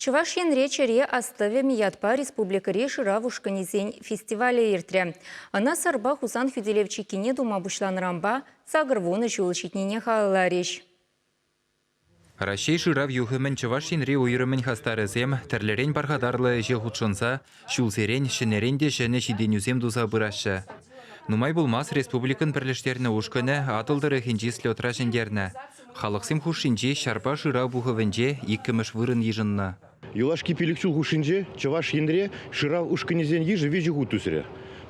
Чӑваш Енре Чӗре астӑвӗм ятпа республикӑри шырав ушкӑнӗсен фестивалӗ иртрӗ. Ӑна Сӑрпа Хусан хӳтӗлев чиккине тума пуҫланӑранпа сакӑр вунӑ ҫул ҫитнине халалларӗҫ. Раҫҫей шырав юхӑмӗн Чӑваш Енри уйрӑмӗн хастарӗсем тӗрлӗрен пархатарлӑ ӗҫе хутшӑнса Ҫулсерен, ҫӗнӗрен те ҫӗнӗ ҫитӗнӳсем туса пыраҫҫӗ. Нумай пулмасть республикӑн пӗрлештернӗ ушкӑнӗ Атӑл тӑрӑхӗнчи слетра ҫӗнтернӗ. Халӑхсем хушшинчи ҫарпа шырав пухӑвӗнче иккӗмӗш вырӑн йышӑннӑ. Юлашки пилӗк ҫул хушшинче Чӑваш Енре шырав ушкӑнӗсен йышӗ виҫӗ хут ӳсрӗ.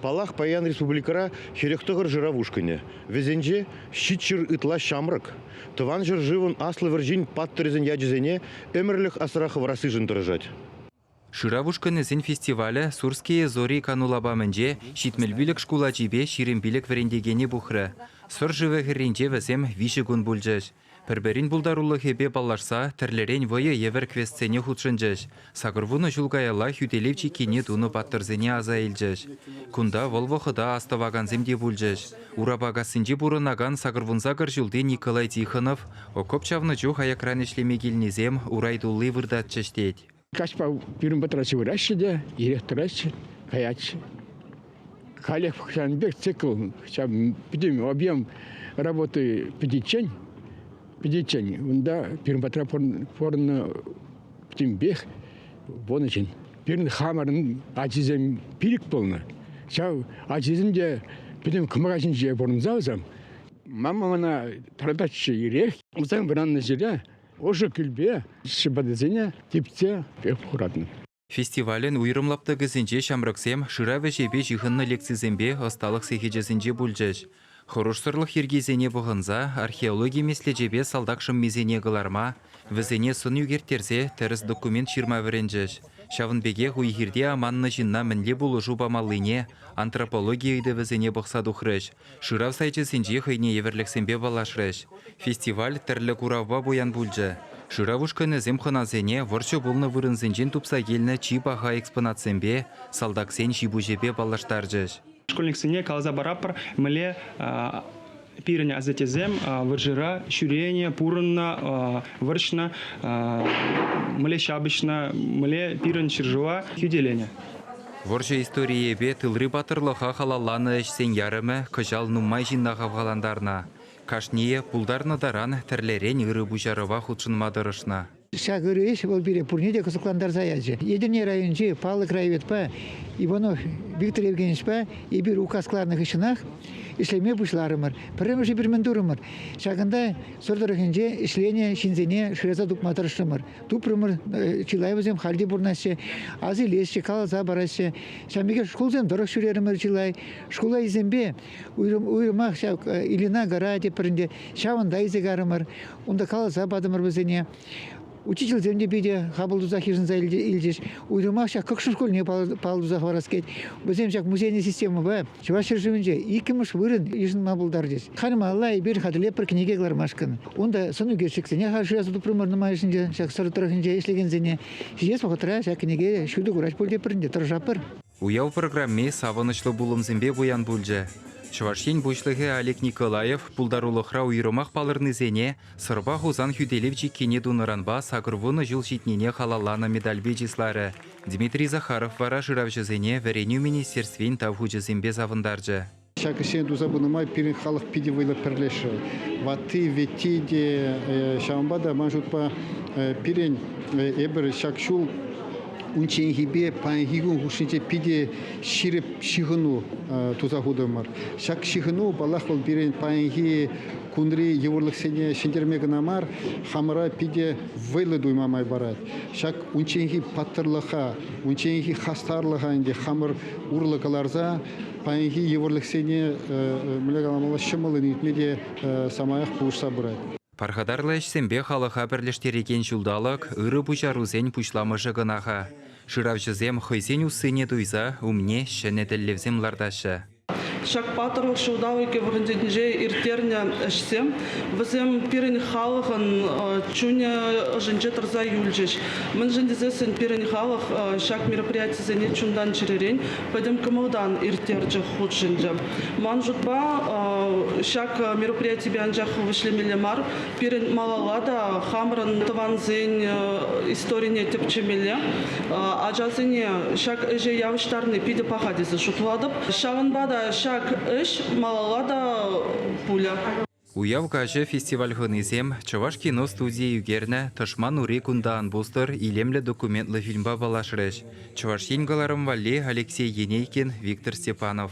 Паллах, паян республикӑра хӗрӗх тӑхӑр шырав ушкӑнӗ. Вӗсенче, ҫичҫӗр ытла ҫамрӑк. Тӑван ҫӗршывӑн Аслӑ вӑрҫин паттӑрӗсен ячӗсене ӗмӗрлӗх асра хӑварассишӗн тӑрӑшать. Шырав ушкӑнӗсен фестивалӗ Сурские зори кану лапамӗнче Ҫитмӗл пилӗк шкул ачипе ҫирӗм пилӗк вӗрентекене пухрӗ. Сӑр шывӗ хӗрринче вӗсем виҫӗ кун пулчӗҫ. Пӗр-пӗрин пултарулӑхӗпе паллашса тӗрлӗрен вӑйӑ евӗр квестсене хутшӑнчӗҫ, сакӑрвунӑ ҫул каялла хӳтӗлев чиккине тунӑ паттӑрсене аса илчӗҫ. Кунта вӑл вӑхӑта астӑвакансем те пулчӗҫ. Урапакассинче пурӑнакан сакӑрвунсакӑр ҫулти Николай Тихонов окоп чавнӑ чух аякран ӗҫлеме килнисем урай тулли выртатчӗҫ тет. Каҫпа пирӗн патра сывӑраҫҫӗ те ирех тӑраҫҫӗ, каятся. Халех ҫавӑн пек цикл, ҫав пӗтӗм объем работы пӗтиччен, пӗтиччен унта пирӗн патра пурӑннӑ пӗтӗмпех вун ӗҫӗн. Пирӗн хамӑрӑн ачисем пилӗк пулнӑ. Ҫав ачисем те пӗтӗм кӑмака ҫинче пурӑнса усам. Мама мана тӑрататчӗ ирех. Усам вӑраннӑ ҫӗре Ӑшӑ кӳлпе ҫӑпатасене типсе пек хуратӑн. Фестивалӗн уйрӑм лаптӑкӗсенче ҫамрӑксем шырав ӗҫӗпе ҫыхӑннӑ лекцисемпе ӑсталӑх сехечӗсенче пулчӗҫ. Хӑрушсӑрлӑх йӗркисене пӑхӑнса археологи меслечӗпе салтак шӑммисене кӑларма, вӗсене сӑн ӳкерттерсе тӗрӗс документ ҫырма вӗренчӗҫ. Ҫавӑн пекех уй-хирте аманнӑ ҫынна мӗнле пулӑшу памаллине, антропологи ыйтӑвӗсене пӑхса тухрӗҫ, Шырав сайчӗсенче хӑйне евӗрлӗхсемпе паллашрӗҫ. Фестиваль тӗрлӗ куравпа пуян пулчӗ. Шырав ушкӑнӗсем хӑнасене вӑрҫӑ пулнӑ вырӑнсенчен тупса килнӗ чи паха экспонатсемпе, салтаксен ҫи-пуҫӗпе паллаштарчӗҫ. Школьниксене каласа паратпӑр, мӗнле пирӗн асаттесем вӑрҫӑра ҫӳренӗ, пурӑннӑ, вӑрҫнӑ, мӗнле ҫапӑҫнӑ, мӗнле пирӗн ҫӗршыва хӳтӗленӗ. Вӑрҫӑ историйӗпе тылри паттӑрлӑха халалланӑ ӗҫсен ярӑмӗ кӑҫал нумай ҫынна хавхалантарнӑ. Кашнийӗ пултарнӑ таран тӗрлӗрен ырӑ пуҫарӑва хутшӑнма тӑрӑшнӑ. Ҫак ырӑ ӗҫ вӑл пире пурне те кӑсӑклантарса ячӗ. Етӗрне районӗнчи паллӑ краеведпа Иванов Виктор Евгеньевичпа эпир указ кӑларнӑ хыҫҫӑнах ӗҫлеме пуҫларӑмӑр. Пӗрремӗшӗ пир мӗн турӑмӑр, ҫакӑнта Сӑр тӑрӑхӗнче ӗҫленӗ ҫынсене шыраса тупма тӑрӑшрӑмӑр. Тупрӑмӑр, э, чылай вӗсем халь те пурӑнаҫҫӗ, асилеҫҫӗ, каласа параҫҫӗ. Ҫав пекех шкулсем тӑрӑх ҫӳрерӗмӗр чылай. Шкула илсемпе уйрӑм, уйрӑмах ҫав э, Ильина гора тепринче, ҫавӑнта илсе карӑмӑр. Унта каласа патӑмӑр вӗсене. Учительсем те питӗ хапӑл тусах йышӑнса илчӗҫ. Уйрӑмах ҫак Кӑкшӑ шкулне паллӑ тусах парас кет. Вӗсем ҫак музейная системӑпа Чӑваш ҫӗршывӗнче иккӗмӗш вырӑн йышӑнма пултарчӗҫ. Халь малла эпир хатӗрлепӗр кӗнеке кӑлармашкӑн. Унта сӑнӳкерчӗксене шырас тупрӑмӑр нумайӑшӗнче ҫак Сӑр тӑрӑхӗнче ӗҫлекенсене. Ҫитес вӑхӑтра ҫак кӗнеке ҫутӑ курать пуль тепӗр те тӑрӑшатпӑр. Уяв программи савӑнӑҫлӑ пулӑмсемпе пуян пулчӗ. Чӑваш Ен Пуҫлӑхӗ Олег Николаев пултарулӑхра уйрӑмах палӑрнисене Сӑрпа Хусан хӳтӗлев чиккине тунӑранпа сакӑр вунӑ ҫул ҫитнине халалланӑ медальпе чысларӗ, Дмитрий Захаров вара шыравҫӑсене Вӗренӳ министерствин тав хучӗсемпе савӑнтарчӗ. Ҫак ӗҫсене туса пынӑ май пирӗн халӑх питӗ вӑйлӑ пӗрлешрӗ. Ватти, вӗтти те, ҫавӑнпа та ман шутпа пирӗн эпир ҫак ҫул унчченхипе паянхи кун хушшинче питӗ ҫирӗп ҫыхӑну туса хутӑмӑр. Ҫак ҫыхӑну, паллах, вӑл пирӗн паянхи кунри йывӑрлӑхсене ҫӗнтерме кӑна мар, хамӑра питӗ вӑйлӑ туйма май парать. Ҫак унчченхи паттӑрлӑха, унчченхи хастарлӑха ӗнтӗ хамӑр урлӑ кӑларса паянхи йывӑрлӑхсене мӗнле каламалла ҫӑмӑллӑн иртме те самаях пулӑшса пырать. Пархатарлӑ ӗҫсемпе халӑха пӗрлештерекен ҫулталӑк ырӑ пуҫарусен пуҫламӑшӗ кӑна-ха. Шыравҫӑсем хӑйсен уссине туйса умне ҫӗнӗ тӗллевсем лартаҫҫӗ. Ҫак паттӑрлӑх ҫулталӑкӗ вӑхӑтӗнче ирттернӗ ӗҫсем вӗсем пирӗн халӑхӑн чунӗ ӑшӗнче тӑрса юлчӗҫ. Мӗншӗн тесессӗн пирӗн халӑх ҫак мероприятисене чунтан чӗререн, пӗтӗм кӑмӑлтан ирттерчӗ, хутшӑнчӗ. Ман шутпа, ҫак мероприятипе анчах вӗҫлемелле мар, Пирӗн малалла та хамӑрӑн тӑвансен историне тӗпчемелле, ачасене ҫак ӗҫе явӑҫтарни питӗ паха тесе шутлатӑп. Ҫавӑнпа та ҫак ӗҫ малалла та пулӗ. Уяв каҫӗ фестиваль хӑнисем Чӑваш киностудийӗ ӳкернӗ Тӑшман ури кунта ан пустӑр илемлӗ документлӑ фильмпа паллашрӗҫ Чӑваш Ен кӑларӑм валли Алексей Енейкин, Виктор Степанов.